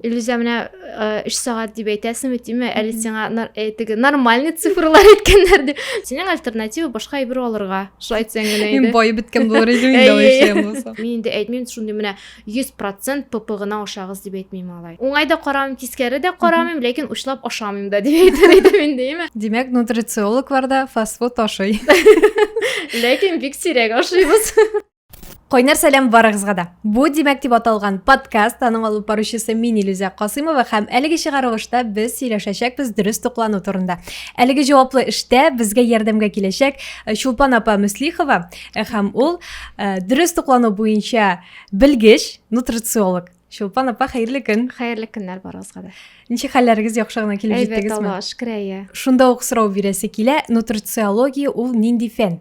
Илюзә менә өч сәгать дип әйтәсеңме тиме әле сиңа теге нормальный цифрлар әйткәннәр дип синең альтернатива башка әйбер алырга шулай әйтсәң генә инде бай беткән булыр иде инде мин инде әйтмим шундый менә йөз процент пп гына ашагыз дип әйтмим алай уңай да карамыйм тискәре дә карамыйм ләкин учлап ашамыйм да дип әйтер идем инде име димәк нутрициологлар да фастфуд ашый ләкин бик сирәк ашыйбыз Кайнар сәлам барыгызга да. Бу димәк дип аталган подкаст аның алып баручысы мин Илүзә Касыймова һәм әлеге чыгарылышта без сөйләшәчәкбез дөрес туклану турында. Әлеге җаваплы эштә безгә ярдәмгә киләчәк э, Чулпан апа Мөслихова э, һәм ул э, дөрес туклану буенча белгеч, нутрициолог. Чулпан апа, хәерле көн. Хәерле көннәр барыгызга да. Ничек хәлләрегез яхшы гына килеп җиттегезме? Әйбәт, Аллаһка шөкер, әйе. Шунда ук сорау бирәсе килә, нутрициология ул нинди фән?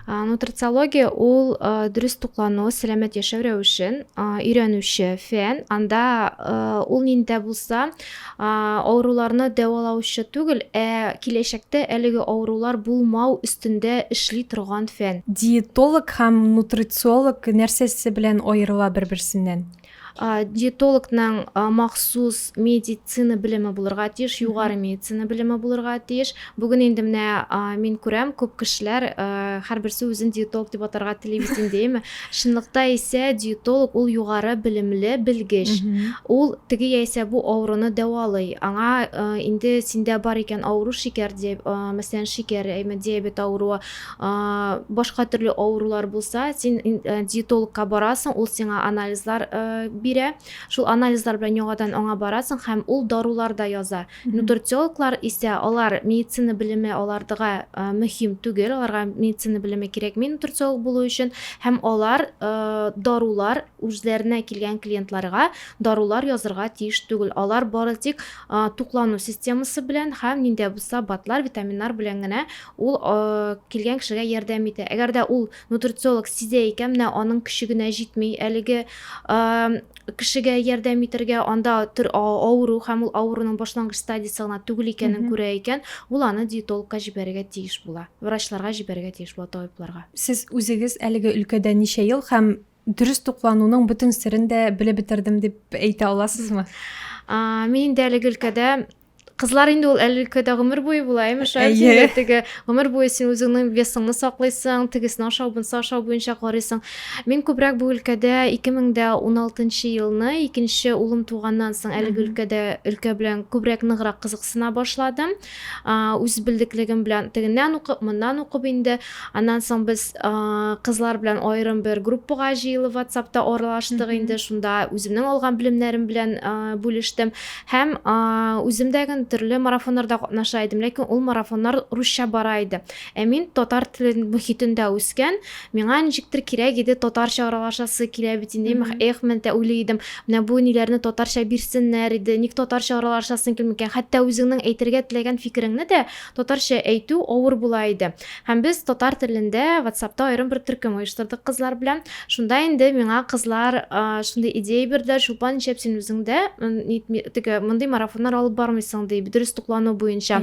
нутрициология ул дөрес туклану сәламәт яшәү рәвешен өйрәнүче фән анда ул нинди булса авыруларны дәвалаучы түгел ә киләчәктә әлеге авырулар булмау өстендә эшли торган фән диетолог һәм нутрициолог нәрсәсе белән аерыла бер берсеннән Диетологның махсус медицина белеме булырга тиеш, югары медицина белеме булырга тиеш. Бүген инде менә мин күрәм, күп кешеләр һәрберсе үзен диетолог дип атарга тели бит инде, әйеме? Чынлыкта исә диетолог ул югары белемле белгеч. Ул теге яисә бу авыруны дәвалый. Аңа инде синдә бар икән авыру шикәр, мәсәлән, шикәр, әйеме, диабет авыруы, Башка төрле авырулар булса, син диетологка барасың, ул сиңа анализлар бирә. Шул анализлар белән яңадан аңа барасың һәм ул дарулар да яза. Нутрициологлар исә алар медицина белеме алардыга мөһим түгел, аларга медицина белеме кирәкми нутрициолог булу өчен һәм алар дарулар үзләренә килгән клиентларга дарулар язырга тиеш түгел, алар бары тик туклану системасы белән һәм нинди дә булса БАДлар, витаминнар белән генә ул килгән кешегә ярдәм итә. Әгәр дә ул нутрициолог сизә икән, менә аның көче генә җитми әлеге кешегә ярдәм итәргә, анда авыру һәм ул авыруның башлангыч стадиясе гына түгел икәнен күрә икән, ул аны диетологка җибәрергә тиеш була, врачларга җибәрергә тиеш була, табибларга. Сез үзегез әлеге өлкәдә ничә ел һәм Дөрес туклануның бөтен серен дә белеп бетердем дип әйтә аласызмы? Мин дә әлеге өлкәдә кызлар инде ул әле өлкәдә гомер буе була имеш әйе теге гомер буе син үзеңнең весыңны саклыйсың тегесен ашау бунсы ашау буенча карыйсың мин күбрәк бу өлкәдә 2016 елны икенче улым туганнан соң әлеге өлкәдә өлкә белән күбрәк ныграк кызыксына башладым үз белдеклегем белән тегеннән укып, моннан укып инде. Аннан соң без кызлар белән аерым бер группага җыелып WhatsApp-та аралаштык инде. Шунда үземнең алган белемнәрем белән бүлештем. Һәм үзем дә төрле марафоннарда катнаша идем, ләкин ул марафоннар русча бара иде. Ә мин татар теле мөхитендә үскән, миңа ничектер кирәк иде татарча аралашасы килә бит инде, мех, эх, мен тә уйлый идем, менә бу ниләрне татарча бирсеннәр иде, ник татарча аралашасың килми икән, хәтта үзеңнең әйтергә теләгән фикереңне дә татарча әйтү авыр була иде. Һәм без татар телендә ватсапта аерым бер төркем оештырдык кызлар белән, шунда инде миңа кызлар шундый идея бирделәр, Чулпан, нишләп син үзең дә, теге, мондый марафоннар алып бармыйсың, ди, дөрес туклану буенча.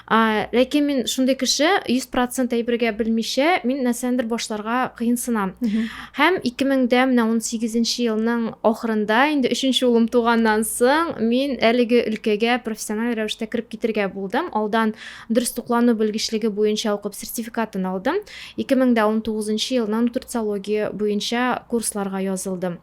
ә, ләкин мин шундый кеше 100% әйбергә белмичә мин нәрсәндер башларга кыенсынам һәм 2000дә менә 18 елның ахырында инде өченче улым туганнан соң мин әлеге өлкәгә профессиональ рәвештә кереп китергә булдым алдан дөрес туклану белгечлеге буенча укып сертификатын алдым 2019 елның нутрициология буенча курсларга язылдым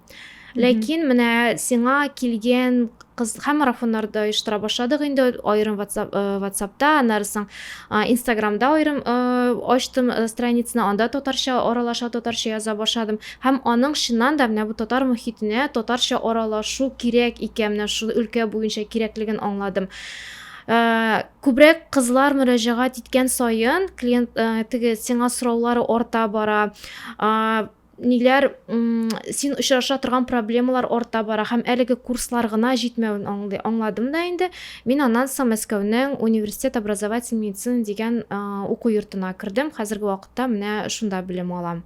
Ләкин менә сиңа килгән кыз һәм марафоннарда оештыра башладык инде аерым WhatsApp, э, WhatsAppта, аннары соң э, Instagramда аерым э, ачтым э, страницаны, анда татарча аралаша, татарча яза башладым. Һәм аның чыннан да менә бу татар мөхитенә татарча аралашу кирәк икән, менә шул өлкә буенча кирәклеген аңладым. Э, күбрәк кызлар мөрәҗәгать иткән саен клиент э, теге сиңа сораулары арта бара. Э, ниләр син очраша торган проблемалар арта бара һәм әлеге курслар гына җитмәвен аңлый аңладым да инде мин аннан соң мәскәүнең университет образовательный медицина дигән уку йортына кердем хәзерге вакытта менә шунда белем алам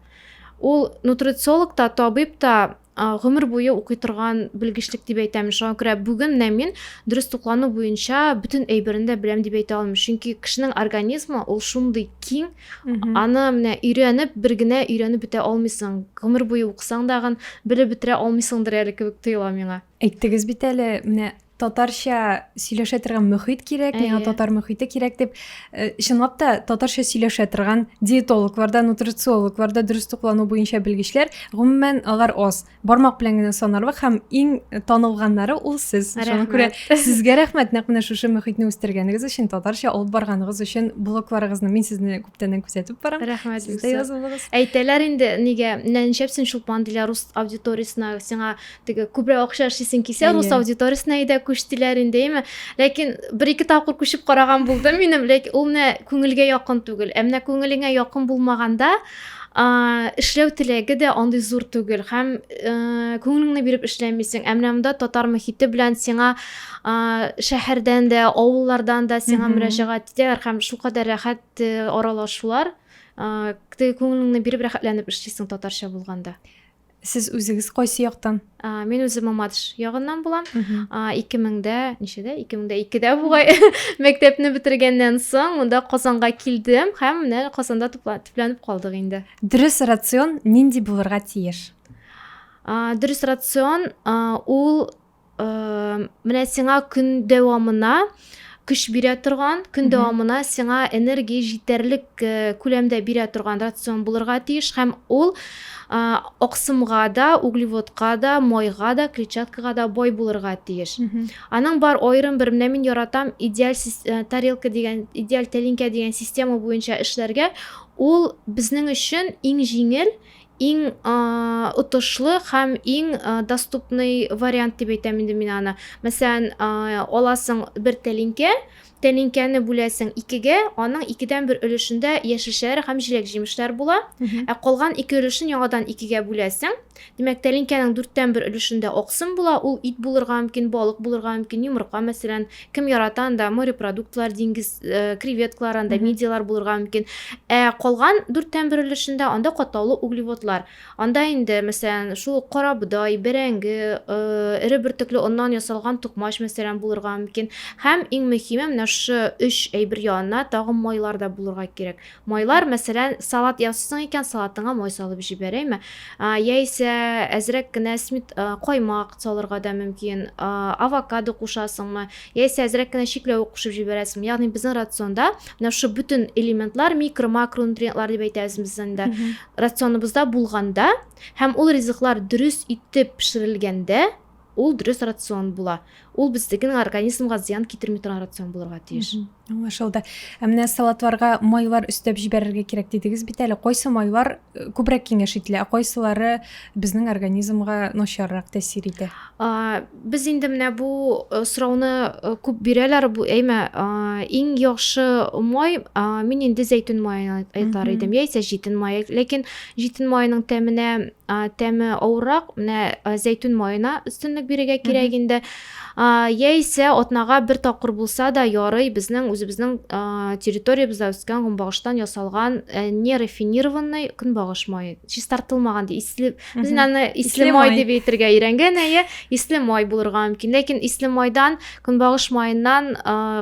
ул нутрициолог та табиб та гомер буе укый торган белгечлек дип әйтәм шуңа күрә бүген менә мин дөрес туклану буенча бөтен әйберен дә беләм дип әйтә алмыйм чөнки кешенең организмы ул шундый киң Аны менә өйрәнеп, бер генә өйрәнеп бетә алмыйсың. Гомер буе укысаң дагын, белеп бетерә алмыйсыңдыр әле кебек тоела миңа. Әйттегез бит әле, менә татарча сөйләшә торган мөхит кирәк, миңа татар мөхите кирәк дип. Э, чынлап та, татарча сөйләшә торган диетологларда, нутрициологларда дөрес туклану буенча белгечләр, гомумән, алар аз. бармак белән генә санарлык һәм иң танылганнары ул сез шуңа күрә сезгә рәхмәт нәкъ менә шушы мөхитне үстергәнегез өчен татарча алып барганыгыз өчен блогларыгызны мин сезне күптәннән күзәтеп барам рәхмәт сез дә язылыгыз әйтәләр инде нигә менә нишләпсең чулпан диләр рус аудиториясенә сиңа теге күбрәк акча эшлисең килсә рус аудиториясенә әйдә күч диләр инде әйме ләкин бер ике тапкыр күчеп караган булдым минем ләкин ул менә күңелгә якын түгел ә менә күңелеңә якын булмаганда эшләү теләге дә андый зур түгел һәм күңелеңне биреп эшләмисең ә менә монда татар мөхите белән сиңа шәһәрдән дә авыллардан да сиңа мөрәҗәгать итәләр һәм шулкадәр рәхәт аралашулар теге күңелеңне биреп рәхәтләнеп эшлисең татарча булганда Сез үзегез кайсы яктан? Ә, мин үзем Мамадыш ягыннан булам. Ә, 2000дә, ничәдә? 2000дә 2дә бугай мәктәпне бетергәннән соң монда Казанга килдем һәм менә Казанда төпләнеп калдык инде. Дөрес рацион нинди булырга тиеш? Ә, дөрес рацион ул менә сиңа көн дәвамына көч бирә торган көн дәвамына сиңа энергия җитәрлек э, күләмдә бирә торган рацион булырга тиеш һәм ул аксымга да углеводка да майга да клетчаткага да бай булырга тиеш аның бар аерым бер менә мин яратам идеаль э, тарелка дигән идеаль тәлинкә дигән система буенча эшләргә ул безнең өчен иң җиңел Иң отышлы һәм иң доступный вариант дип әйтәм инде мин аны. Мәсәлән, аласың бер тәлинкә, тәлинкәне бүләсең икегә, аның икедән бер өлешендә яшелчәләр һәм җиләк-җимешләр була, ә калган ике өлешен яңадан икегә бүләсең. Димәк, тәлинкәнең дүрттән бер өлешендә аксым була, ул ит булырга мөмкин, балык булырга мөмкин, йомырка, мәсәлән, кем ярата анда морепродуктлар диңгез э, креветкалар анда мидиялар булырга мөмкин ә калган дүрттән бер өлешендә анда катлаулы углеводлар анда инде мәсәлән шул карабодай бәрәңге э, эре бөртекле оннан ясалган тукмач мәсәлән булырга мөмкин һәм иң мөһиме менә шушы өч әйбер янына тагын майлар да булырга кирәк Майлар, мәсәлән, салат ясыйсың икән, салатыңа май салып җибәрәйме? Яисә әзрәк кенә смит каймак салырга да мөмкин. Авокадо кушасыңмы? Яисә әзрәк кенә чикләвек кушып җибәрәсеңме? Ягъни безнең рационда менә шушы бөтен элементлар, микро, макронутриентлар дип әйтәбез без инде. Рационыбызда булганда һәм ул ризыклар дөрес итеп пешерелгәндә, Ул дөрес рацион була. Ул безнең организмга зыян китерми торган рацион булырга тиеш. Аңлашылды. Ә менә салатларга майлар өстәп җибәрергә кирәк дидегез бит әле. Кайсы майлар э, күбрәк киңәш ителә, ә кайсылары безнең организмга начаррак тәэсир итә? А, без инде менә бу э, сорауны э, күп бирәләр. Бу әйме иң яхшы май, а, мин инде зәйтүн маен айтар идем, яисә җитен май. Ләкин Җитен маеның тәменә тәме авыррак, менә зәйтүн маена өстенлек бирергә кирәк инде. Яисә атнага бер тапкыр булса да ярый, безнең үзебезнең территориябездә үскән гомбагыштан ясалган не рафинированный көнбагыш мае. Чистартылмаган ди, исле, без аны исле май дип әйтергә өйрәнгән, әйе, исле май булырга мөмкин. Ләкин исле майдан, көнбагыш маеннан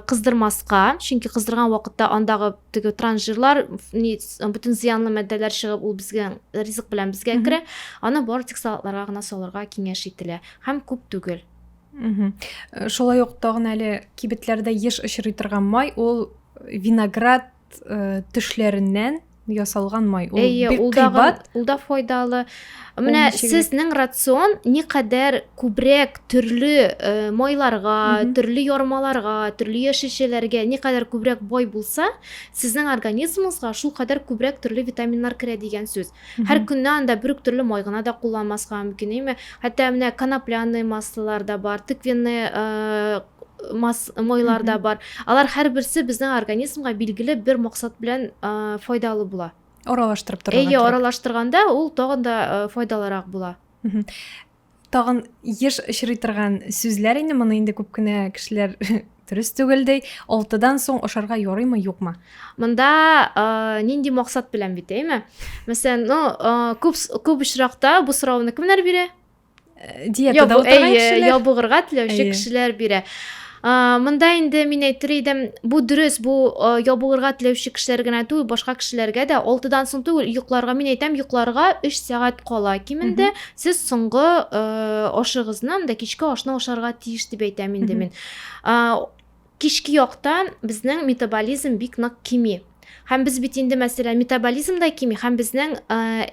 кыздырмаска, чөнки кыздырган вакытта андагы теге транжирлар ни бөтен зыянлы матдәләр чыгып ул безгә ризык белән безгә керә аны бары тик салатларга гына салырга киңәш ителә һәм күп түгел э, шулай ук тагын әле кибетләрдә еш очрый торган май ул виноград э, төшләреннән ясалган май ул бик кыйбат ул да файдалы Менә сезнең рацион никадәр күбрәк төрле э, майларга, төрле ярмаларга, төрле яшелчәләргә никадәр күбрәк бай булса, сезнең организмыгызга шул кадәр күбрәк төрле витаминнар керә дигән сүз. Һәр көнне анда бер үк төрле май гына да кулланмаска мөмкин, әйме? Хәтта менә конопляные маслолар да бар, тыквенные э, мас майлар да бар. Алар һәрберсе безнең организмга билгеле бер максат белән э, файдалы була. аралаштырып торырга әйе аралаштырганда ул тагын да э, файдалырак була тагын еш очрый торган сүзләр инде моны инде күп кенә кешеләр дөрес түгелдей алтыдан соң ашарга ярыймы юкмы мында ә, э, нинди максат белән бит әйме мәсәлән ну ә, э, күп күп очракта бу сорауны кемнәр бирә э, диетада утырган кешеләр ябыгырга теләүче кешеләр бирә мында инде мин әйтер идем бу дөрес бу ябыгырга теләүче кешеләр генә түгел башка кешеләргә дә алтыдан соң түгел йокларга мин әйтәм йокларга өч сәгать кала кимендә сез соңгы ашыгызны анда кичке ашны ашарга тиеш дип әйтәм инде мин Кичке яктан безнең метаболизм бик нык кими. Һәм без бит инде, мәсәлән, метаболизм да кими, һәм безнең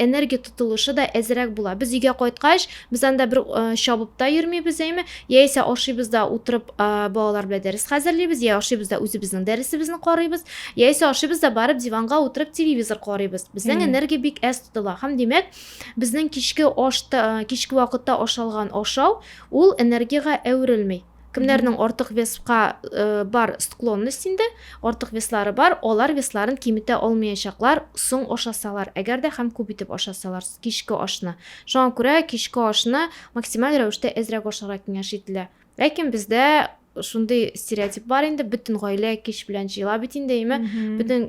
энергия тотылышы да әзерәк була. Без өйгә кайткач, без анда бер чабып та йөрмибез, әйме? Яисә ашыйбыз да утырып балалар белән дәрес хәзерлибез, я ашыйбыз да үзебезнең дәресебезне карыйбыз, яисә ашыйбыз да барып диванга утырып телевизор карыйбыз. Безнең энергия бик әз тотыла. Һәм димәк, безнең кичке ашта, кичке вакытта ашалган ашау ул энергиягә әверелми. Кемнәрнең артык веска бар склонность инде, артык веслары бар, алар весларын киметә алмаячаклар, соң ашасалар, әгәр дә һәм күп итеп ашасалар кичке ашны. Шуңа күрә кичке ашны максималь рәвештә әзрәк ашарга киңәш ителә. Ләкин бездә шундый стереотип бар инде, бөтен гаилә кич белән җыела бит инде, әйме? Бөтен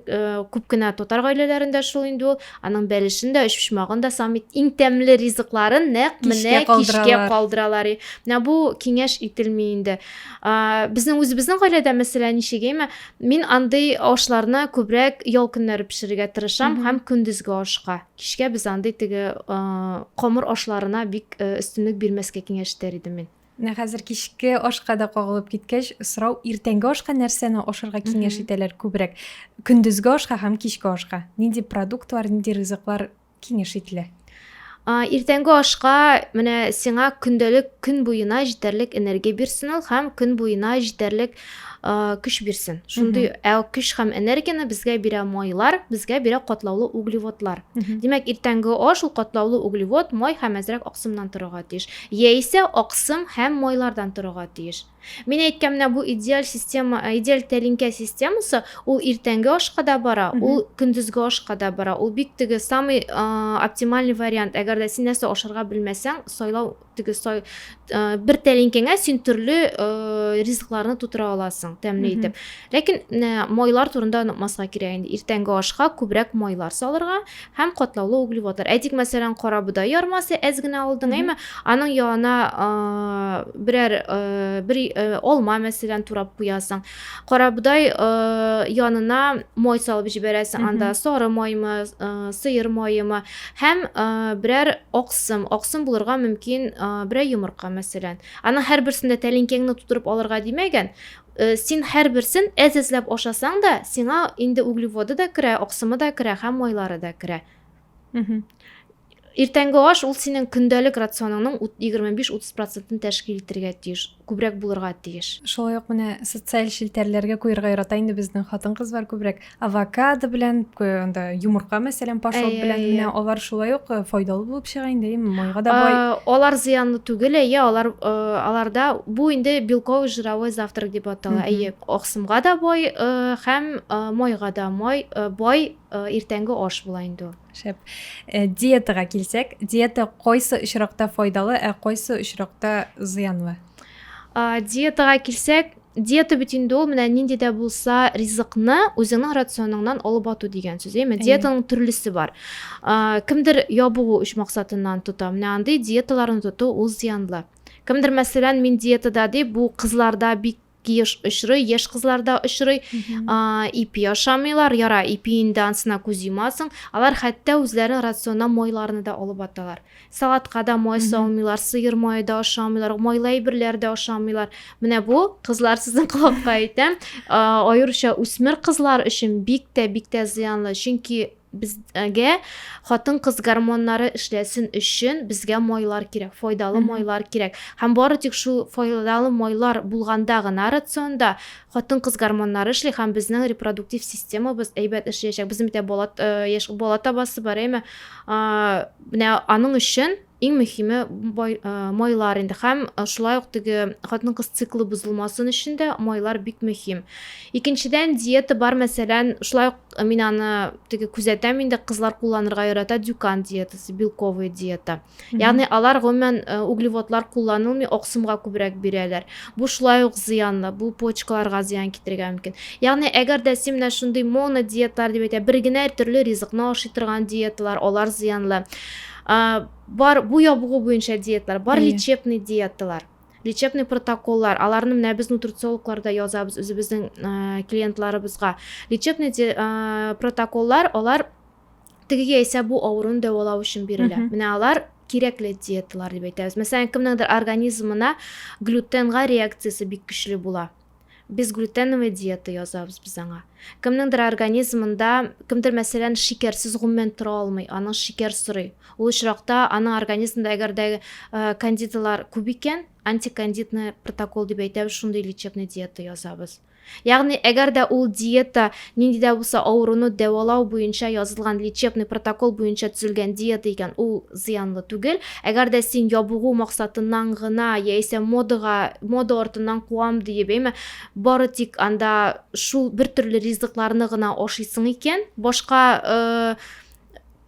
күп кенә татар гаиләләрендә шул инде ул. Аның бәлешен дә, өчпочмагын да саммит иң тәмле ризыкларын нәкъ менә кичкә калдыралар. Менә бу киңәш ителми инде. Безнең үзебезнең гаиләдә мәсәлә ничегәйме, мин андый ашларны күбрәк ял көннәре пешерергә тырышам һәм көндезге ашка. Кичкә без андый теге камыр ашларына бик өстенлек бирмәскә киңәш итәр идем мин. Менә хәзер кичке ашка да кагылып киткәч, сорау иртәнге ашка нәрсәне ашарга киңәш итәләр күбрәк? Көндезге ашка һәм кичке ашка. Нинди продуктлар, нинди ризыклар киңәш ителә? Иртәнге ашка менә сиңа көндәлек көн буена җитәрлек энергия бирсен ул һәм көн буена җитәрлек көч бирсен шундый ә көч һәм энергияне безгә бирә майлар безгә бирә катлаулы углеводлар димәк иртәнге аш ул катлаулы углевод май һәм әзрәк аксымнан торырга тиеш яисә аксым һәм майлардан торырга тиеш мин әйткән менә бу идеаль система идеаль тәлинкә системасы ул иртәнге ашка да бара ул көндезге ашка да бара ул бик теге самый оптимальный вариант әгәр дә син нәрсә ашарга белмәсәң сайлау теге сай бер тәлинкәңә син төрле ризыкларны тутыра аласың тәмле итеп ләкин майлар турында онытмаска кирәк инде иртәнге ашка күбрәк майлар салырга һәм катлаулы углеводлар әйтик мәсәлән кара бодай ярмасы әз генә алдың әйме аның янына берәр бер алма мәсәлән турап куясың карабодай э, янына май салып җибәрәсең анда сары маймы э, сыер маемы һәм э, берәр аксым аксым булырга мөмкин берәр йомырка мәсәлән аның һәрберсендә тәлинкәңне тутырып алырга димәгән Э, син һәрберсен әз әзләп ашасаң да сиңа инде углеводы да керә аксымы да керә һәм майлары да керә Иртәнге аш ул синең көндәлек рационыңның 25-30 процентын тәшкил итергә тиеш, күбрәк булырга тиеш. Шулай ук менә социаль челтәрләргә куерга ярата инде безнең хатын-кызлар күбрәк авокадо белән, анда йомырка мәсәлән, пашот белән менә алар шулай ук э, файдалы булып чыга инде, майга да бай. Алар зыянлы түгел, әйе, алар э, аларда бу инде белковый жировой завтрак дип атала. Әйе, аксымга да бай э, һәм майга да май бай иртәнге аш була инде ул. Шәп. Э, диетага килсәк, диета кайсы очракта файдалы, ә кайсы очракта зыянлы? Диетага килсәк, диета бит инде ул менә нинди дә булса ризыкны үзеңнең рационыңнан алып ату дигән сүз әйме диетаның төрлесе бар ә, кемдер ябыгу өч максатыннан тота менә андый диеталарны тоту ул зыянлы кемдер мәсәлән мин диетада дип бу кызларда бик еш очрый яшь кызларда очрый ипи ашамыйлар яра ипи инде ансына күз йомасың алар хәтта үзләренең рационына майларны да алып аталар салатка да май салмыйлар сыер мае да ашамыйлар майлы әйберләр дә ашамыйлар менә бу кызлар сезнең колакка әйтәм аеруча үсмер кызлар өчен бик тә бик тә зыянлы чөнки Безгә хатын-кыз гормоннары эшләсен өчен безгә майлар кирәк, файдалы майлар кирәк. Һәм бары тик шул файдалы майлар булганда гына рационда хатын-кыз гормоннары эшли һәм безнең репродуктив системабыз әйбәт эшләячәк. Безнең бит бала э, яшь бала табасы бар, әйме? Менә аның өчен Иң мөһиме, бай, э, майлар инде һәм э, шулай ук теге хатын-кыз циклы бозылмасын өчен дә майлар бик мөһим. Икенчедән, диета бар, мәсәлән, шулай ук э, мин аны теге күзәтәм инде, кызлар кулланырга ярата дюкан диетасы, белковый диета. Ягъни алар гомумән э, углеводлар кулланылмый, аксымга күбрәк бирәләр. Бу шулай ук зыянлы, бу почкаларга зыян китерергә мөмкин. Ягъни әгәр дә син менә шундый монодиеталар дип әйтә, бер генә төрле ризыкны ашый торган диеталар, алар зыянлы. Ә, бар бу ябыгу буенча диеталар, бар лечебный диеталар лечебный протоколлар аларны менә без нутрициологларда язабыз үзебезнең ә, клиентларыбызга лечебный де, ә, протоколлар алар теге яисә бу авыруны дәвалау өчен бирелә менә алар кирәкле диеталар дип әйтәбез мәсәлән кемнеңдер организмына глютенга реакциясе бик көчле була Безглютеновый диета язабыз без аңа. Кемнеңдер организмында, кемдер мәсәлән шикәрсез гомумән тора алмый, аның шикәр сорый. Ул очракта аның организмында әгәр дә э, кандидалар күп икән, антикандидный протокол дип әйтәбез, шундый лечебный диета язабыз. Ягъни әгәр дә ул диета Нинди дә булса авыруны дәвалау буенча язылган лечебный протокол буенча төзелгән диета икән, ул зыянлы түгел. Әгәр дә син ябыгу максатыннан гына яисә модага, мода артыннан куам диеп, әйме, бары тик анда шул бертөрле ризыкларны гына ашыйсың икән, башка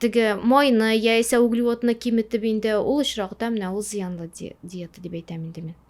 теге майны яисә углеводны киметеп инде, ул очракта менә ул зыянлы диета дип әйтәм инде мин.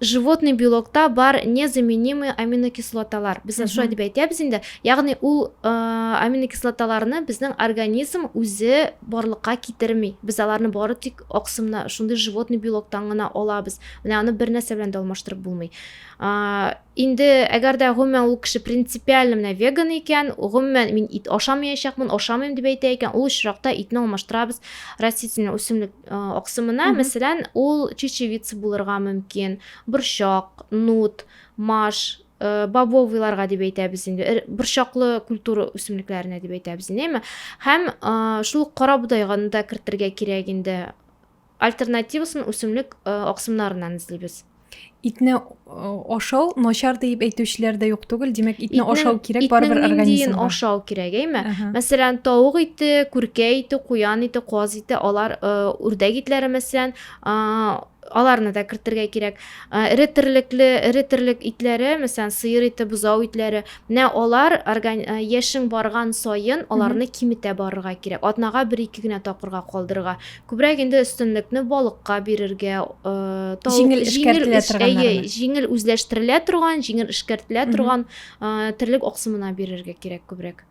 животный белокта бар незаменимый аминокислоталар без шулай дип әйтәбез инде ягъни ул аминокислоталарны безнең организм үзе барлыкка китерми без аларны бары тик аксымна шундый животный белоктан гына алабыз менә аны бер нәрсә белән дә алмаштырып булмый инде әгәр дә гомумән ул кеше принципиально менә веган икән гомумән мин ит ашамаячакмын ашамыйм дип әйтә икән ул очракта итне алмаштырабыз растительный үсемлек Аксымына, мәсәлән, ул чечевица булырга мөмкин, борчак, нут, маш, бобовыйларга дип әйтәбез инде, борчаклы культура үсемлекләренә дип әйтәбез инде, әйме? Һәм шул ук карабудайга да кертергә кирәк инде. Альтернативасын үсемлек аксымнарыннан эзлибез. итне ашау начар дип әйтүчеләр дә юк түгел димәк итне ашау кирәк барыбер организмга ашау кирәк әйме мәсәлән тавык ите күркә ите куян ите каз ите алар үрдәк итләре мәсәлән аларны да кертергә кирәк эре терлекле эре терлек итләре мәсәлән сыер ите бозау итләре менә алар орган яшең барган саен аларны киметә барырга кирәк атнага бер ике генә тапкырга калдырырга күбрәк инде өстенлекне балыкка бирергә ә, җиңел эшкәртелә торган җиңел үзләштерелә торган җиңел эшкәртелә торган ә, терлек аксымына бирергә кирәк күбрәк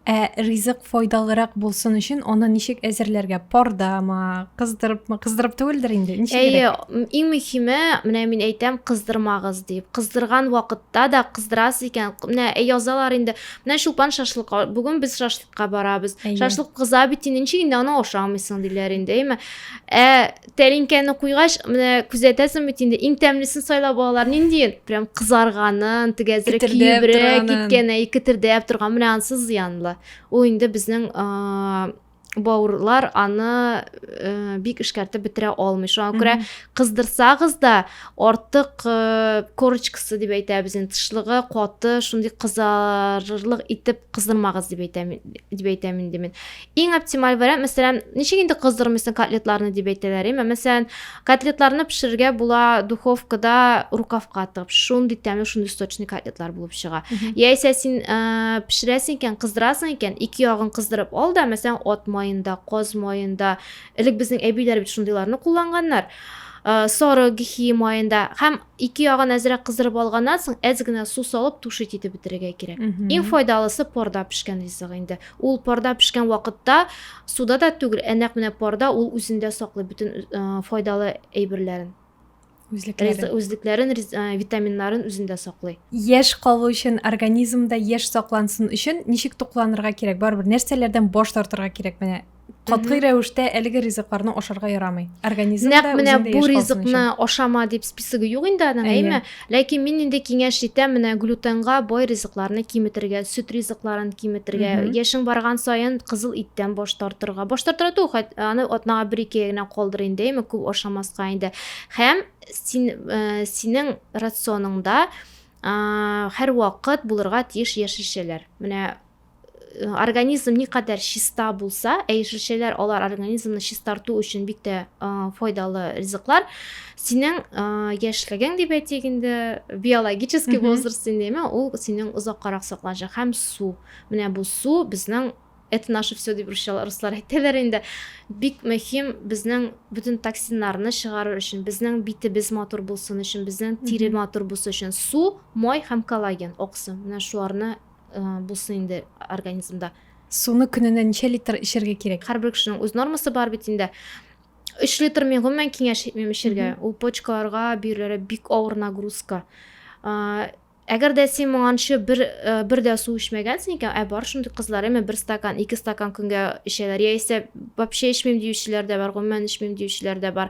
ә ризык файдалырак булсын өчен аны ничек әзерләргә пардамы кыздырыпмы кыздырып түгелдер инде ничек әйе иң мөһиме менә мин әйтәм кыздырмагыз дип кыздырган вакытта да кыздырасыз икән менә язалар инде менә чулпан шашлык бүген без шашлык ка барабыз шашлык кыза бит инде ничек инде аны ашамыйсың диләр инде әйме ә тәлинкәне куйгач менә күзәтәсең бит инде иң тәмлесен сайлап алалар ниндиен прям кызарганын теге әзрәк кибрәк киткән әй кетердәп торган менә анысы зыянлы ул инде безнең бауырлар аны ә, бик эшкәртеп бетерә алмый шуңа күрә кыздырсагыз да артык ә, корочкасы дип әйтәбез инде тышлыгы каты шундый кызарырлык итеп кыздырмагыз дип әйтәм дип әйтәм инде мин иң оптималь вариант мәсәлән ничек инде кыздырмыйсың котлетларны дип әйтәләр әйме мәсәлән котлетларны пешерергә була духовкада рукавка тыгып шундый тәмле шундый сочный котлетлар булып чыга яисә син ә, пешерәсең икән кыздырасың икән ике ягын кыздырып ал да мәсәлән ат маенда каз маенда элек безнең әбиләр бит шундыйларны кулланганнар ә, сары гехи маенда һәм Ике ягын әзрәк кыздырып алганнан соң, әз генә су салып, тушить итеп бетерергә кирәк. Иң файдалысы парда пешкән ризык инде. Ул парда пешкән вакытта суда да түгел, ә нәкъ менә парда ул үзендә саклый бөтен файдалы әйберләрен. Үзлекләрен. Үзлекләрен, витаминнарын үзендә саклый. Яшь калу өчен, организмда яшь саклансын өчен ничек тукланырга кирәк? Барыбер нәрсәләрдән баш тартырга кирәк? Менә катгый рәвештә әлеге ризыкларны ашарга ярамый организм нәкъ менә бу ризыкны ашама дип списогы юк инде аның әйме ләкин мин инде киңәш итәм менә глютенга бай ризыкларны киметергә сөт ризыкларын киметергә яшең барган саен кызыл иттән баш тартырга баш тартырга түгел аны атнага бер ике генә калдыр инде әйме күп ашамаска инде һәм син э, синең рационыңда һәрвакыт булырга тиеш яшелчәләр менә организм никадәр чиста булса, ә яшелчәләр алар организмны чистарту өчен бик тә файдалы ризыклар. Синең яшьлегең дип әйтик инде, биологический возраст димме, ул синең озаккарак сакланачак һәм су. Менә бу су безнең это наше все дип руслар әйтәләр инде бик мөһим безнең бөтен токсиннарны чыгарыр өчен безнең битебез матур булсын өчен безнең тире матур булсын өчен су май һәм коллаген аксым менә шуларны булсын инде организмда. Суны көненә ничә литр эчәргә кирәк? Һәрбер кешенең үз нормасы бар бит инде. Өч литр мин гомумән киңәш итмим эчәргә. Ул почкаларга бирелә бик авыр нагрузка. Әгәр дә син моңанчы бер бер дә су эчмәгәнсең икән, ә бар шундый кызлар, әмма бер стакан, ике стакан көнгә эчәләр. Яисә вообще эчмим диючеләр дә бар, гомумән эчмим диючеләр дә бар.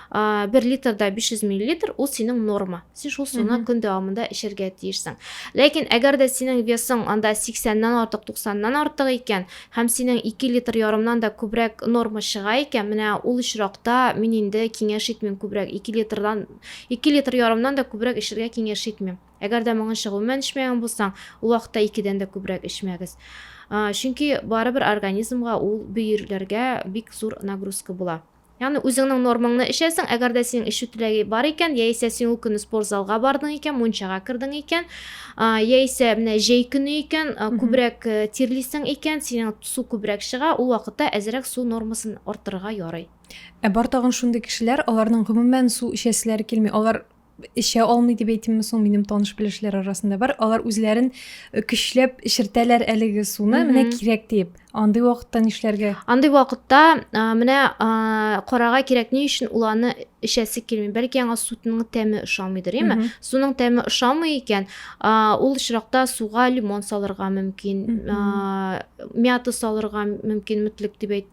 ә, бер литрда 500 миллилитр ул синең норма син шул суны көн дәвамында эчәргә тиешсең ләкин әгәр дә синең весың анда 80-нан артык 90-нан артык икән һәм синең 2 литр ярымнан да күбрәк норма чыга икән менә ул очракта мин инде киңәш итмим күбрәк 2 литрдан 2 литр ярымнан да күбрәк эчәргә киңәш итмим әгәр дә моңынча гомумән эчмәгән булсаң ул вакытта 2-дән дә күбрәк эчмәгез чөнки барыбер организмга ул бөерләргә бик зур нагрузка була Ягъни үзеңнең нормаңны эчәсең, әгәр дә синең эчү теләге бар икән, яисә син ул көнне спорт залга бардың икән, мунчага кердең икән, яисә менә җәй көне икән, күбрәк э, тирлисең икән, синең су күбрәк чыга, ул вакытта әзрәк су нормасын арттырырга ярый. Ә бар тагын шундый кешеләр, аларның гомумән су эчәселәре килми. Алар эчә алмый дип әйтимме соң минем таныш белешләр арасында бар алар үзләрен э, көчләп эчертәләр әлеге суны менә кирәк диеп андый вакытта нишләргә андый вакытта менә карага кирәк ни өчен ул аны эчәсе килми бәлки аңа суның тәме ошамыйдыр яме суның тәме ошамый икән ул очракта суга лимон салырга мөмкин мята салырга мөмкин мүтлек дип әйт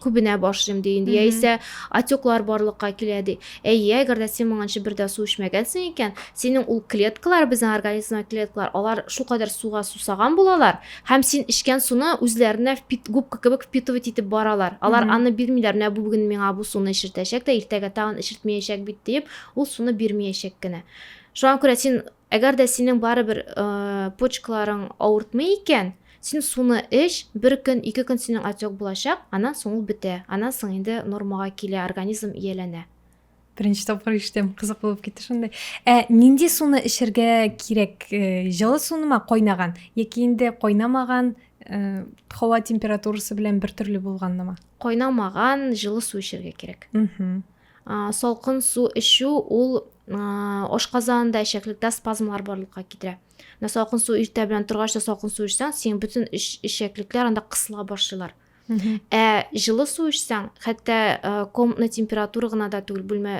күбенә башлыйм ди инде яисә отеклар барлыкка килә ди әйе әгәр дә син моңанчы бер дә су эчмәгәнсең икән синең ул клеткалар безнең организмда клеткалар алар шулкадәр суга сусаган булалар һәм син эчкән суны үзләренә губка кебек впитывать итеп баралар алар аны бирмиләр менә бу бүген миңа бу суны эчертәчәк тә иртәгә тагын эчертмәячәк бит диеп ул суны бирмәячәк кенә шуңа күрә син Әгәр дә синең барыбер почкаларың авыртмый икән, син суны эч, бер көн, ике көн синең отек булачак, аннан соң ул бетә, аннан соң инде нормага килә, организм ияләнә. Беренче тапкыр ишетәм, кызык булып китте шундый. Ә нинди суны эчәргә кирәк? Җылы сунымы, кайнаган яки инде кайнамаган, һава температурасы белән бертөрле булганнымы? Кайнамаган җылы су эчәргә кирәк. салкын су эчү ул ашказанында эчәклектә спазмлар барлыкка китерә менә салкын су иртә белән торгач та салкын су эчсәң синең бөтен эчәклекләр анда кысыла башлыйлар ә жылы су эчсәң хәтта комнатный температура гына да түгел бүлмә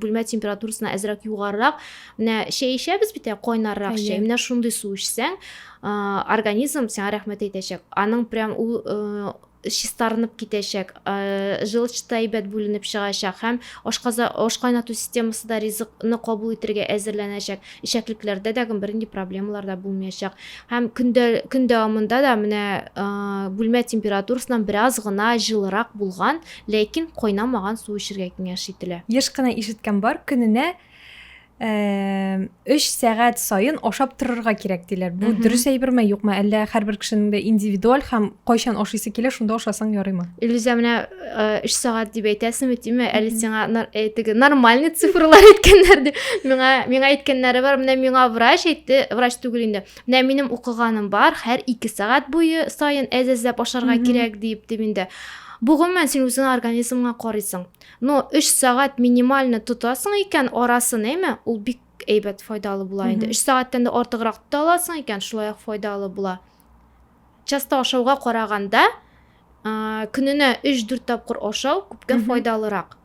бүлмә температурасына әзрәк югарырак менә чәй эчәбез бит ә кайнаррак чәй менә шундый су эчсәң организм сиңа рәхмәт әйтәчәк аның прям ул чистарынып китәчәк, желчь та әйбәт бүленеп чыгачак һәм ашказа, аш кайнату системасы да ризык ны кабул итергә әзерләнәчәк, эчәклекләрдә дә бернинди проблемалар да булмаячак. Һәм көн дә, көн дәвамында да менә бүлмә температурасыннан бераз гына җылырак булган, ләкин кайнамаган су эчергә киңәш ителә. Еш кына ишеткән бар, көненә өч сәгать сайын ашап торырга кирәк диләр бу дөрес әйберме юкмы әллә һәрбер кешенең дә индивидуаль һәм кайчан ашыйсы килә шунда ашасаң ярыймы илюзия менә өч сәгать дип әйтәсеңме тиме әле сиңа э, теге нормальный цифрлар әйткәннәр дип миңа миңа әйткәннәре бар менә миңа врач әйтте врач түгел инде менә минем укыганым бар һәр ике сәгать буе сайын әз әзләп ашарга кирәк диеп дип инде бу гомумән син үзеңә организмыңа карыйсың Но өч сәгать минимально тотасың икән арасын, әйме, ул бик әйбәт файдалы була инде. Өч сәгатьтән дә артыграк тота аласың икән, шулай ук файдалы була. Часто ашауга караганда, көненә 3-4 тапкыр ашау күпкә файдалырак.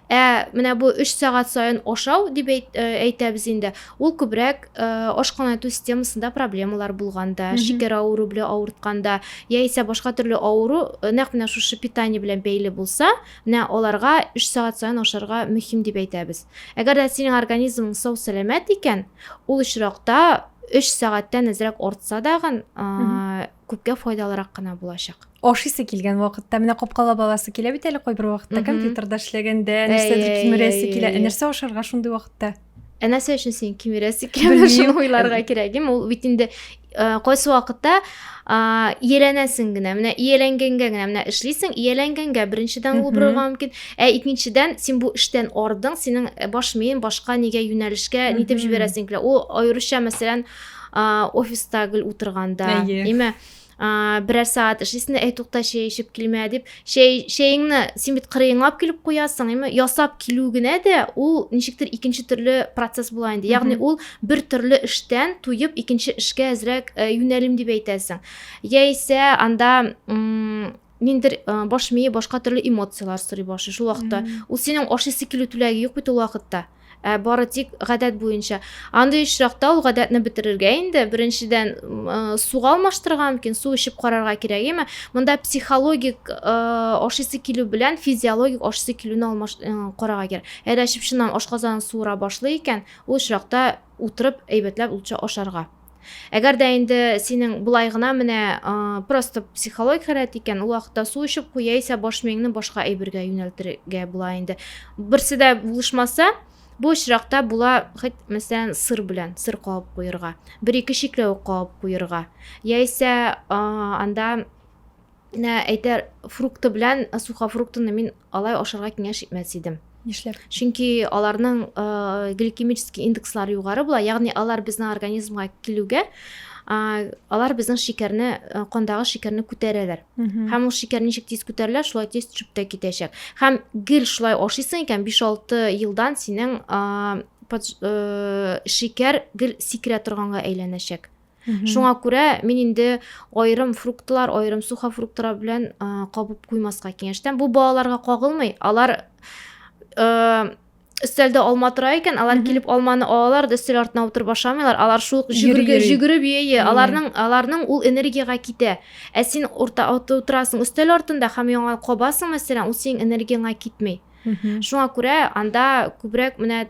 Ә менә бу 3 сәгать саен ашау дип әйтәбез инде. Ул күбрәк ашкана итү системасында проблемалар булганда, шикәр авыру белән авыртканда, яисә башка төрле авыру нәкъ менә шушы питание белән бәйле булса, Менә аларга өч сәгать саен ашарга мөһим дип әйтәбез. Әгәр дә синең организмың сау-сәламәт икән, ул очракта өч сәгатьтән әзрәк артса дагын, күпкә файдалырак кына булачак. Ашыйсы килгән вакытта менә капкалап аласы килә бит әле кайбер вакытта компьютерда эшләгәндә, нәрсәдер кимерәсе килә. Ә нәрсә ашарга шундый вакытта? ә нәрсә өчен син кимерә сикерәме шуны уйларга кирәк ем ул бит инде кайсы вакытта ияләнәсең генә менә ияләнгәнгә генә менә эшлисең ияләнгәнгә беренчедән ул борырга мөмкин ә икенчедән син бу эштән ардың синең э, баш миең башка нигә юнәлешкә нитеп җибәрәсең килә ул аеруча мәсәлән офиста гел утырганда әйе берәр сәгать эшлисең дә әй тукта чәй эчеп килмә дип чәй чәеңне син бит кырыеңлап килеп куясың әйме ясап килү генә дә ул ничектер икенче төрле процесс була инде ягъни ул бер төрле эштән туеп икенче эшкә әзрәк э, юнәлим дип әйтәсең яисә анда ниндер э, баш мие башка төрле эмоциялар сорый башлый шул вакытта ул синең ашыйсы килү теләге юк бит ул вакытта Ә бары тик гадәт буенча. Андый очракта ул гадәтне бетерергә инде, беренчедән, суга алмаштырырга мөмкин, су эчеп карарга кирәк, яме монда психологик ашыйсы килү белән физиологик ашыйсы килүне алмаш карарга кирәк. Әгәр әчеп чыннан ашказанын суыра башлый икән, ул очракта утырып әйбәтләп лучше ашарга. Әгәр дә инде синең болай гына менә просто психологик халәт икән, ул вакытта су эчеп куй, яисә баш миеңне башка әйбергә юнәлтергә була инде. Берсе дә булышмаса, бу очракта була хоть мәсәлән сыр белән сыр кабып куерга, бер-ике чикләвек кабып куерга, яисә анда Нә әйтер, фрукты белән сухофруктыны мин алай ашарга киңәш итмәс идем. Нишләп? Чөнки аларның э, гликемический индекслары югары була, ягъни алар безнең организмга килүгә э, алар безнең шикәрне, э, кандагы шикәрне күтәрәләр. Мгм. Һәм ул шикәр ничек тиз күтәрелә, шулай тиз төшеп тә китәчәк. Һәм гел шулай ашыйсың икән, 5-6 елдан синең э, под- э, шикәр гел сикерә торганга әйләнәчәк. Шуңа күрә мин инде аерым фруктлар, аерым сухофруктлар белән кабып куймаска киңәш итәм. Бу балаларга кагылмый. Алар өстәлдә алма тора икән, алар килеп алманы алалар, да өстәл артына утырып ашамыйлар. Алар шул җөгерге җөгереп йөе, аларның аларның ул энергияга китә. Ә син урта утырасың өстәл артында һәм яңа кабасың, мәсәлән, ул синең энергияңа китми. Шуңа күрә анда күбрәк менә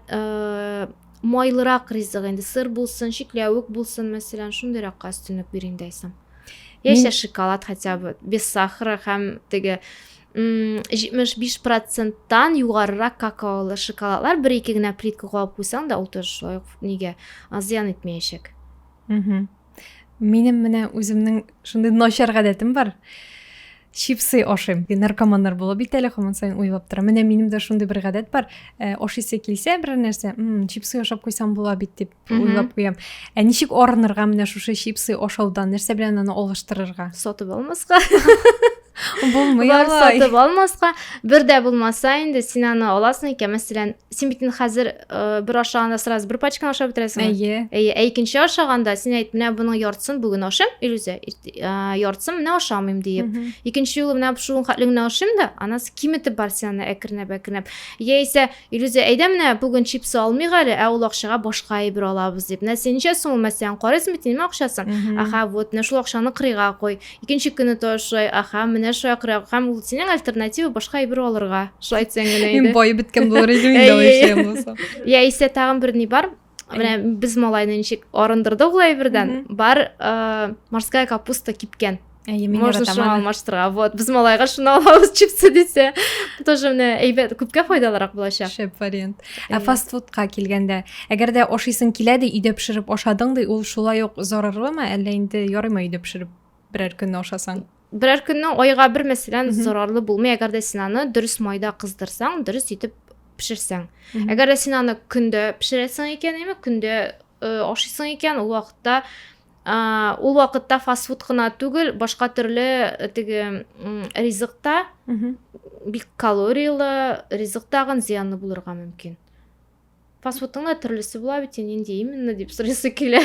Майлырак ризык инде, сыр булсын, чикләвек булсын, мәсәлән, шундыйракка өстенлек бирим дә исәм. Яисә шоколад хотя бы без сахара һәм теге 75 проценттан югарырак какаолы шоколадлар бер ике генә плитка куып куйсаң да ул тоже шулай ук нигә зыян итмәячәк Минем менә үземнең шундый начар гадәтем бар. Чипсы ашыйм. Наркоманнар була бит әле һаман сайын уйлап тора. Менә минем дә шундый бер гадәт бар. Э, ашыйсы килсә бер нәрсә, мм, чипсы ашап куйсам була бит дип уйлап куям. Ә ничек арынырга менә шушы чипсы ашаудан? Нәрсә белән аны алыштырырга? Сатып алмаска. Булмый алай. Сатып алмаска. Бер дә булмаса инде син аны аласың икән, мәсәлән, син бит инде хәзер э, бер ашаганда сразу бер пачканы ашап бетерәсең әйе әйе ә икенче ашаганда син әйт менә моның яртысын бүген ашыйм илүзә яртысын менә ашамыйм диеп икенче юлы менә шуның хәтле генә ашыйм да анасы киметеп бар син аны әкренләп әкренләп яисә илүзә әйдә менә бүген чипсы алмыйк әле ә ул акчага башка әйбер алабыз дип менә син ничә сум мәсәлән карыйсың бит инде акчасын аха вот менә шул акчаны кырыйга куй Икенче көне то шулай, аха, менә шулай кырау. Һәм ул синең альтернатива башка әйбер алырга. Шулай дисәң генә иде. Мин бай беткән булыр идем инде алай эшләгән булсам. Я исә тагын бер ни бар. Менә без малайны ничек арындырдык ул әйбердән. Бар морская капуста кипкән. Әйе, мин Можно шуны алмаштырырга. Вот, без малайга шуны алабыз чипсы дисә. Тоже менә әйбәт, күпкә файдалырак булачак. Шәп вариант. Ә фастфудка килгәндә, әгәр дә ашыйсың килә ди, өйдә пешереп ашадың ди, ул шулай ук зарарлымы, әллә инде ярыймы өйдә пешереп берәр көнне ашасаң? Берәр көнне айга бер мәсәлән зарарлы булмый, әгәр дә син аны дөрес майда кыздырсаң, дөрес итеп пешерсәң. Әгәр дә син аны көндә пешерәсең икән, яме көндә э, ашыйсың икән, ул вакытта ул вакытта фастфуд кына түгел башка төрле э, теге ризык та бик калориялы ризык тагын зыянлы булырга мөмкин фастфудтың да төрлесе була бит нинди именно дип сорыйсы килә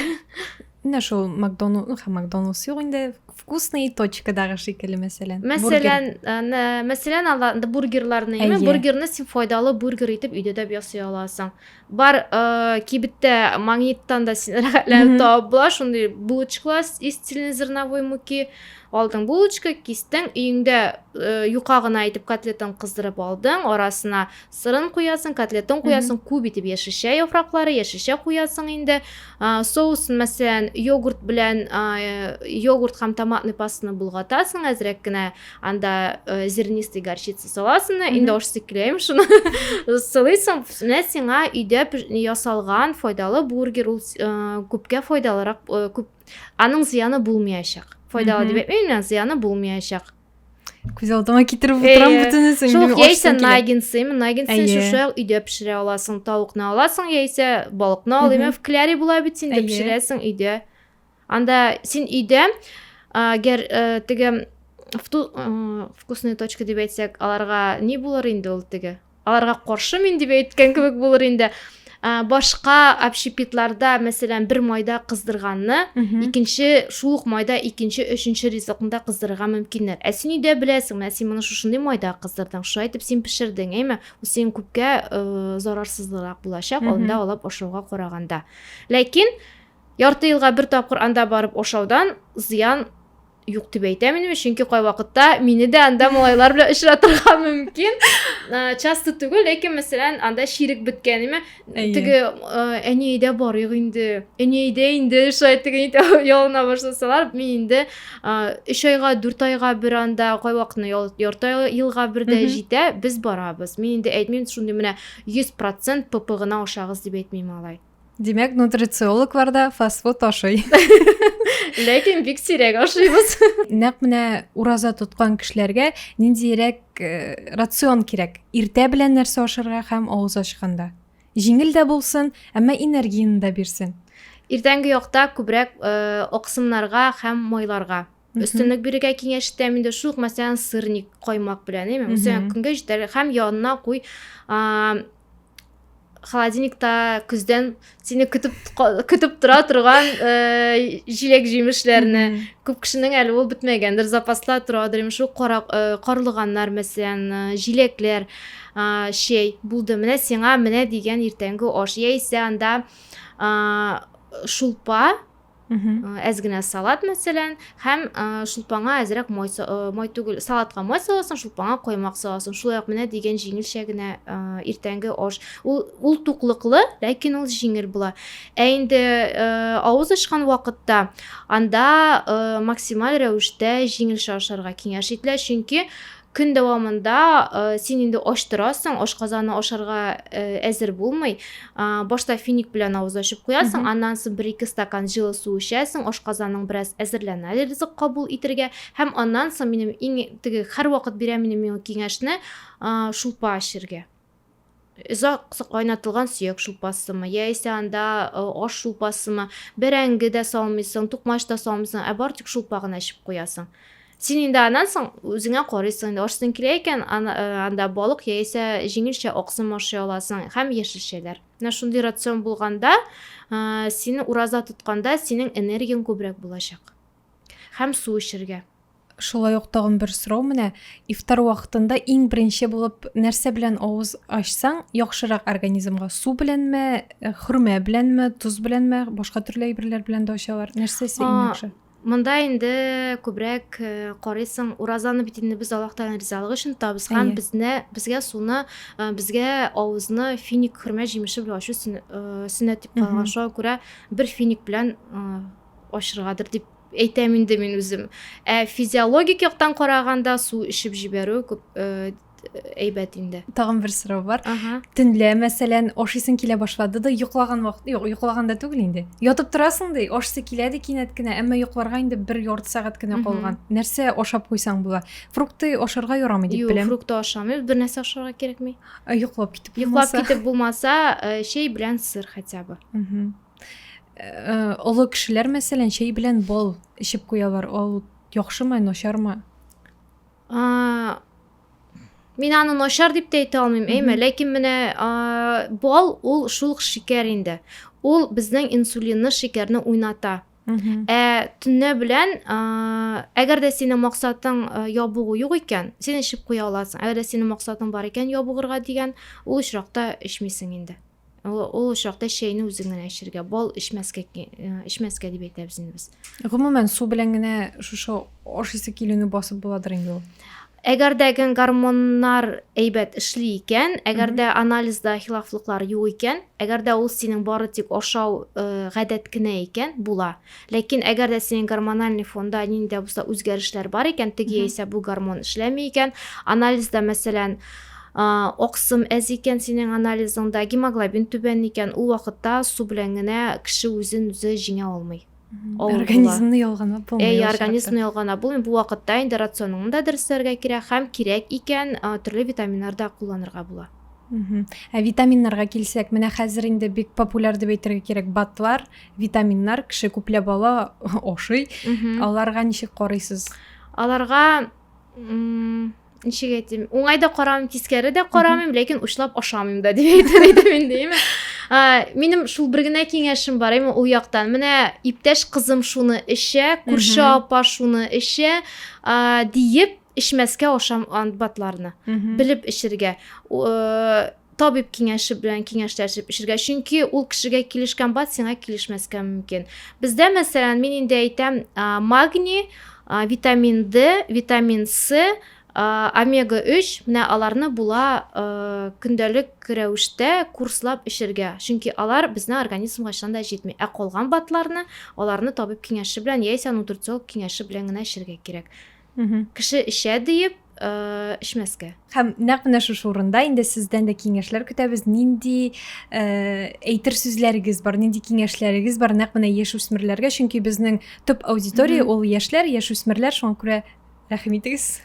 менә шул макдоналд ну һәм макдоналдс юк инде вкусный точкадагы шикелле мәсәлән мәсәлән мәсәлән алар бургерларны әйе бургерны син файдалы бургер итеп өйдә дә ясый аласың бар ә, кибеттә магниттан да син рәхәтләнеп табып була шундый булочкалар из цельнозерновой муки алдың булочка кистең өеңдә ә, юка гына итеп котлетын кыздырып алдың арасына сырын куясың котлетын куясың күп итеп яшелчә яфраклары яшелчә куясың инде ә, соусын мәсәлән йогурт белән ә, йогурт һәм томатный пастаны болгатасың әзрәк кенә анда ә, зернистый горчица саласың да инде ошсыз киләем шуны сылыйсың менә сиңа өйдә ясалган файдалы бургер ул ә, күпкә файдалырак ә, күп аның зыяны булмаячак файдалы дип әйтмим зыяны булмаячак күз алдыма китереп утырам бөтенесен шул яисә наггинсы наггинсы шушы өйдә пешерә аласың тавыкны аласың яисә балыкны ал имя в кляре була бит инде пешерәсең өйдә Анда син өйдә, гәр э, теге э, вкусные точка дип әйтсәк, аларга ни булыр инде ул теге? Аларга каршы мин дип әйткән кебек булыр инде. башка общепитларда мәсәлән бер майда кыздырганны икенче шул ук майда икенче өченче ризыкны кыздырырга мөмкиннәр ә син өйдә беләсең менә син моны шушындый майда кыздырдың шулай итеп син пешердең әйме ул синең күпкә зарарсызрак булачак алда алып ашауга караганда ләкин Ярты елга бер тапкыр анда барып ошаудан зыян юк дип әйтәм инде чөнки кайвакытта мине дә анда малайлар белән очратырга мөмкин часто түгел ләкин мәсәлән анда чирек беткәнеме теге әни әйдә барыйк инде әни әйдә инде шулай теге ялына башласалар мин инде өч айга дүрт айга бер анда кайвакытны ярты елга бер дә җитә без барабыз мин инде әйтмим шундый менә йөз процент пп гына ашагыз дип әйтмим алай Димәк, нутрициологлар да фастфуд ашый. Ләкин бик сирәк ашыйбыз. Нәкъ менә ураза тоткан кешеләргә ниндирәк э, рацион кирәк? Иртә белән нәрсә ашарга һәм авыз ачканда. Җиңел дә булсын, әмма энергияне дә бирсен. Иртәнге якта күбрәк э, аксымнарга һәм майларга. өстенлек бирергә киңәш итәм инде шул ук мәсәлән сырник каймак белән әйме мәсәлән көнгә җитәр һәм янына куй холодильникта көздән сине көтеп көтеп тора торган э, җиләк җимешләрне күп кешенең әле ул бетмәгәндер запаста торадыр шул кара, э, карлыганнар мәсәлән э, җиләкләр ә, чәй булды менә сиңа менә дигән иртәнге аш яисә анда ә, шулпа әз генә салат мәсәлән һәм шулпаңа әзрәк май, май түгел салатка май саласың шулпаңа коймак саласың шулай ук менә дигән җиңелчә генә иртәнге аш ул, ул туклыклы ләкин ул җиңел була ә инде авыз ачкан вакытта анда максималь рәвештә җиңелчә ашарга киңәш ителә чөнки Көн дәвамында син инде ач торасың, ашказаны ашарга әзер булмый. Башта финик белән авыз ачып куясың, аннан соң бер-ике стакан җылы су эчәсең, ашказаның бераз әзерләнә ризык кабул итергә. Һәм аннан соң минем иң теге һәрвакыт бирә минем миңа киңәшне шулпа эчергә. озак кайнатылган сөяк шулпасымы яисә анда э, аш шулпасымы бәрәңге дә салмыйсың тукмач та салмыйсың ә бары тик шулпа гына эчеп куясың син инде аннан соң үзеңә карыйсың инде ашсың килә икән э, анда балык яисә җиңелчә аксым ашый аласың һәм яшелчәләр менә шундый рацион булганда э, сине ураза тотканда синең энергияң күбрәк булачак һәм су эчәргә Шулай ук тагын бер сорау менә, ифтар вакытында иң беренче булып нәрсә белән авыз ачсаң, яхшырак организмга? Су беләнме, э, хөрмә беләнме, тоз беләнме, башка төрле әйберләр белән дә ачалар. Нәрсәсе иң яхшы? Монда инде күбрәк э, карыйсың, уразаны бит инде без Аллаһтан ризалык өчен табыз һәм безне безгә суны, э, безгә авызны финик хөрмә җимеше белән ачу э, сөннәт дип калган. Шуңа күрә бер финик белән ачыргадыр дип Әйтәм инде мин үзем. Ә физиологик яктан караганда су эчеп җибәрү күп әйбәт инде. Тагын бер сорау бар. Ага. Төнлә, мәсәлән, ашыйсың килә башлады да, йоклаган вакыт, юк, йоклаганда түгел инде. Ятып торасың ди, ашысы килә ди кинәт кенә, әмма йокларга инде бер ярты сәгать кенә калган. Нәрсә ашап куйсаң була? Фрукты ашарга ярамый дип беләм. Юк, фрукты ашамыйбыз, бер нәрсә ашарга кирәкми. Йоклап китеп булмаса. Йоклап китеп булмаса, чәй белән сыр хотя бы. Э, олы кешеләр мәсәлән чәй белән бал эчеп куялар ул яхшымы начармы мин аны начар дип тә әйтә алмыйм әйме ләкин менә бал ул шул шикәр инде ул безнең инсулинны шикәрне уйната ә төнлә белән әгәр дә синең максатың ябыгу юк икән син эчеп куя аласың әгәр дә синең максатың бар икән ябыгырга дигән ул очракта эчмисең инде ул очракта чәйне үзең генә эчәргә бал эчмәскә эчмәскә дип әйтәбез инде без гомумән су белән генә шушы аш исе килүне басып буладыр инде ул әгәр дә гормоннар әйбәт эшли икән әгәр дә анализда хилафлыклар юк икән әгәр дә ул синең бары тик ашау э, гадәт кенә икән була Ләкин әгәр дә синең гормональный фонда нинди дә булса үзгәрешләр бар икән, теге яисә бу гормон эшләми икән, анализда, мәсәлән, аксым әз икән синең анализыңда, гемоглобин түбән икән, ул вакытта су белән генә кеше үзен үзе җиңә алмый. Организмны ялганлап булмый. Әй, организмны ялганлап булмый. Бу вакытта инде рационыңны да дөрестерергә кирәк һәм кирәк икән төрле витаминнар да кулланырга була. Ә витаминнарга килсәк, менә хәзер инде бик популяр дип әйтергә кирәк батлар, витаминнар кеше күпләп ала ашый аларга ничек карыйсыз аларга ничек әйтим уңай да карамыйм тискәре дә карамыйм ләкин учлап ашамыйм да дип әйтер идем инде име минем шул бер генә киңәшем бар име ул яктан менә иптәш кызым шуны эчә күрше апа шуны эчә диеп эчмәскә ашам ант батларны белеп эчергә табиб киңәше белән киңәшләшеп эчергә чөнки ул кешегә килешкән бат сиңа килешмәскә мөмкин бездә мәсәлән мин инде әйтәм магний витамин д витамин с омега 3 менә аларны була көндәлек рәвештә курслап эчергә чөнки алар безнең организмга чында җитми ә калган батларны аларны табиб киңәше белән яисә нутрициолог киңәше белән генә эчергә кирәк кеше эчә диеп эчмәскә һәм нәкъ менә шушы урында инде сездән дә киңәшләр көтәбез нинди э, әйтер сүзләрегез бар нинди киңәшләрегез бар нәкъ менә яшүсмерләргә чөнки безнең төп аудитория ул яшьләр яшүсмерләр шуңа күрә рәхим итегез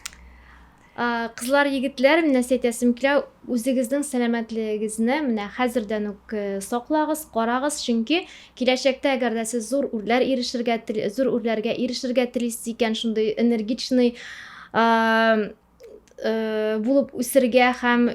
кызлар егетләр менә әйтәсем килә үзегезнең сәламәтлегегезне менә хәзердән үк э, саклагыз карагыз чөнки Киләчәктә, әгәр дә сез зур үрләр ирешергә тел, зур үрләргә ирешергә телисез икән, шундый энергичный булып үсергә һәм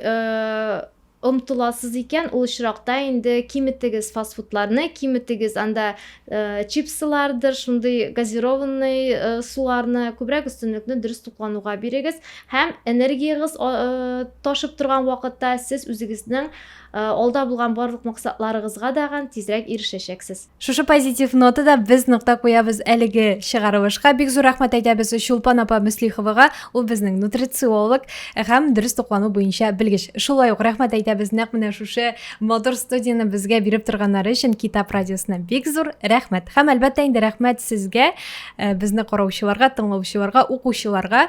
омтыласыз икән, ул очракта инде киметегез фастфудларны, киметегез анда э, чипсылардыр, шундый газированный э, суларны, күбрәк өстенлекне дөрес туклануга бирегез һәм энергиягез э, ташып торган вакытта сез үзегезнең э, Алда булган барлык максатларыгызга да ган тизрәк ирешәчәксез. Шушы позитив нотада без нокта куябыз әлеге чыгарылышка. Бик зур рәхмәт әйтәбез Чулпан апа Мөслиховага. Ул безнең нутрициолог һәм дөрес туклану буенча белгеч. Шулай ук рәхмәт әйтәбез нәкъ менә шушы матур студияне безгә биреп торганнары өчен Китап радиосына бик зур рәхмәт. Һәм әлбәттә инде рәхмәт сезгә, э, безне караучыларга, тыңлаучыларга, укучыларга.